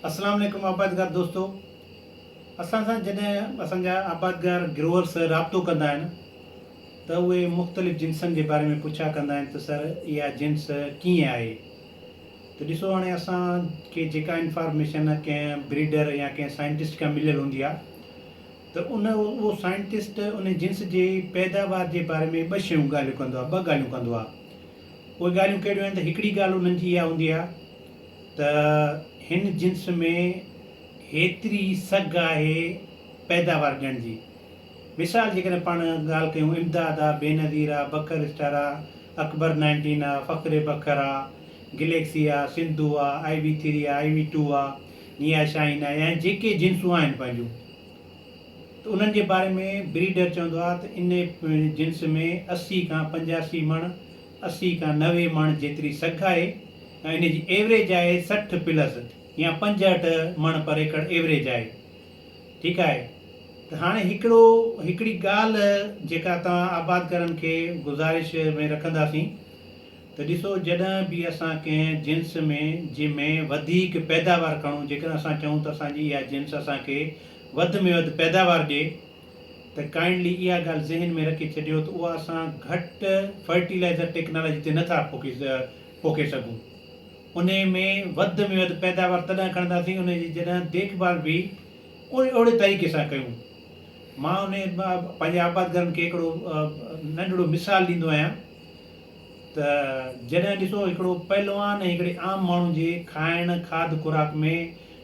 السلام عليڪم آبادگار دوستو اسان سان جڏهن اسان جا آبادگار گروورس رابطو ڪندا آهن ته اهي مختلف جنسن جي باري ۾ پڇا ڪندا آهن ته سر اها جنس ڪيئن آهي ته ڏسو هاڻي اسان کي جيڪا انفارميشن ڪنهن بريڊر يا ڪنهن سائنٽسٽ کان مليل هوندي آهي ته ان اهو سائنٽسٽ ان جنس جي پيداوار جي باري ۾ ٻه شيون ڳالهيون ڪندو آهي ٻه ڳالهيون ڪندو آهي اهي ڳالهيون ڪهڙيون آهن ته هڪڙي ڳالهه انهن جي اها هوندي آهي ته هن جنس ۾ هيتري سگهه آهي پيداوار ڏيڻ جي. مثال جيڪڏهن پاڻ ڳالهه ڪيون امداد آ، بينظير آ، بکر اسٽار آ، اڪبر نائنٽين آ، فخر بکر آ، گليڪسي آ، سنڌو آ، آئي وي ٿري آ، آئي وي ٽو آ، نيا شاهين آ ۽ جيڪي جنسون آهن پنهنجون ته انهن جي باري ۾ بريڊر چوندو آ ته ان جنس ۾ اسي کان پنجاسي مڻ اسي کان نوي مڻ جيتري سگهه آهي ۽ ان جي ايوريج آهي سٺ پلس يا پنجهٺ مڻ پر ايڪڙ ايوريج آهي ٺيڪ آهي ته هاڻي هڪڙو هڪڙي ڳالهه جيڪا توهان آبادگارن کي گذارش ۾ رکنداسين ته ڏسو جڏهن به اسان ڪنهن جنس ۾ جي ۾ وڌيڪ پيداوار کڻون جيڪڏهن اسان چهون ته اسان جي اها جنس اسان کي وڌ ۾ وڌ پيداوار ڏي ته ڪائنڊلي اها ڳالهه ذهن ۾ رکي ڇڏيو ته اها اسان گهٽ فرٽيلائزر ٽيڪنالاجي تي نٿا پوکي سگهون انهي ۾ وڌ ۾ وڌ پيداوار تڏهن کڻنداسين انهي جي جڏهن ديک ڀال به اهڙي طريقي سان ڪيون مان انهي پنهنجي آبادگارن کي هڪڙو ننڍڙو مثال ڏيندو آهيان ته جڏهن ڏسو هڪڙو پهلوان ۽ هڪڙي عام ماڻهو جي کائڻ کاڌ خوراڪ ۾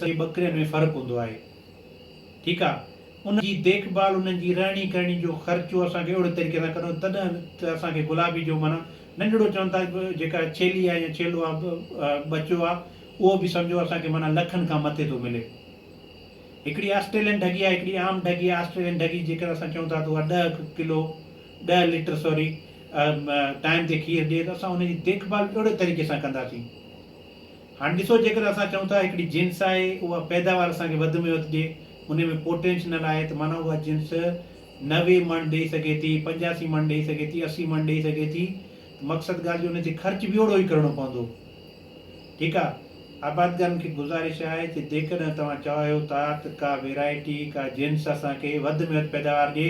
سڀئي ٻڪرين ۾ فرق هوندو آهي ٺيڪ آ انهن جي ديک ڀال انهن جي رهڻي ڪهڻي جو خرچو اسان کي اهڙي طريقي سان ڪرڻو تڏهن ته اسان کي گلابي جو معنيٰ ننڍڙو چون ٿا جيڪا ڇيلي آ يا ڇيلو آ ٻچو آ اهو به سمجهو اسان کي معنيٰ لکن کان مٿي ٿو ملي هڪڙي آسٽريلين ڍڳي آ هڪڙي عام ڍڳي آ آسٽريلين ڍڳي جيڪر اسان چون ٿا ته اها ڏهه ڪلو ڏهه ليٽر سوري ٽائيم تي کير ڏي ته اسان انهن جي ديک ڀال به اهڙي طريقي سان ڪنداسين. هاڻ ڏسو جيڪر اسان چئون ٿا هڪڙي جنس آهي اها پيداوار اسان کي وڌ ۾ وڌ ڏي انهي ۾ پوٽينشنل آهي ته معنيٰ اها جنس نوي مڻ ڏئي سگهي ٿي، پنجاسي مڻ ڏئي سگهي ٿي، اسي مڻ ڏئي سگهي ٿي ته مقصد ڳالهه جو انهي تي خرچ به اوڙو ئي ڪرڻو پوندو ٺيڪ آ. آبادگارن کي گذارش آهي ته جيڪڏهن توهان چاهيو ٿا ته ڪا ويرائٽي ڪا جنس اسان کي وڌ ۾ وڌ پيداوار ڏي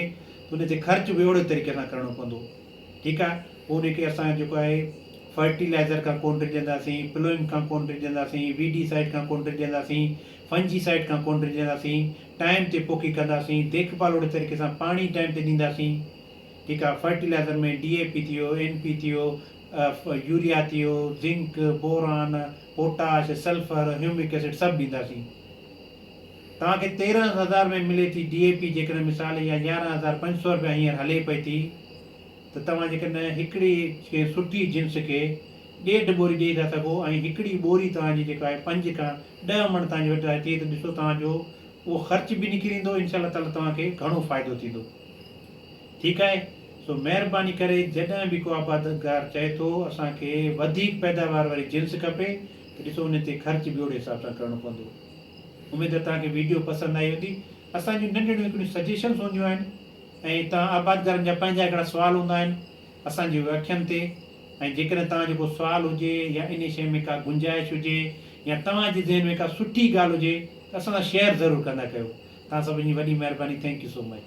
ته انهي تي خرچ به اوڙي طريقي سان ڪرڻو پوندو. ٺيڪ آ پوء ان کي اسان جيڪو آهي فرٽيلائزر کان ڪون ڊڄنداسين، پلوئنگ کان ڪون ڊڄنداسين، وي ڊي سائيڊ کان ڪون ڊڄنداسين، فنجي سائيڊ کان ڪون ڊڄنداسين، ٽائيم تي پوکي ڪنداسين، ديک ڀال اوڙي طريقي سان پاڻي ٽائيم تي ڏينداسين ٺيڪ آ فرٽيلائزر ۾ ڊي اي پي ٿيو، اين پي ٿيو، يوريا ٿيو، zinc, boron, potash, sulphur, humic acid سڀ ڏينداسين. توهان کي تيرهن هزار ۾ ملي ٿي ڊي اي پي جيڪڏهن مثال يا يارهن هزار پنج سؤ رپيا هينئر هلي پئي ٿي ته توهان جيڪڏهن هڪڙي ڪنهن سٺي جنس کي ڏيڍ ٻوري ڏئي ٿا سگهو ۽ هڪڙي ٻوري توهان جي جيڪا آهي پنج کان ڏهه مڻ توهان جي وٽ آهي ٿي ته ڏسو توهان جو اهو خرچ به نڪري ايندو انشاء الله تعالي توهان کي گهڻو فائدو ٿيندو ٺيڪ آهي سو مهرباني ڪري جڏهن به ڪو آبادگار چئي ٿو اسان کي وڌيڪ پيداوار واري جنس کپي ته ڏسو ان تي خرچ به اهڙي حساب سان ڪرڻو پوندو. اميد توهان کي ويڊيو پسند آئي هوندي. اسان جون ننڍڙيون هڪڙيون سجيشنس هونديون آهن ۽ توهان آبادگارن جا پنهنجا هڪڙا سوال هوندا آهن اسان جي اکين تي ۽ جيڪڏهن توهان جو ڪو سوال هجي يا انهي شيء ۾ ڪا گنجائش هجي يا توهان جي ذهن ۾ ڪا سٺي ڳالهه هجي ته اسان سان شيئر ضرور ڪندا ڪيو. توهان سڀني جي وڏي مهرباني ٿينڪ يو سو مچ.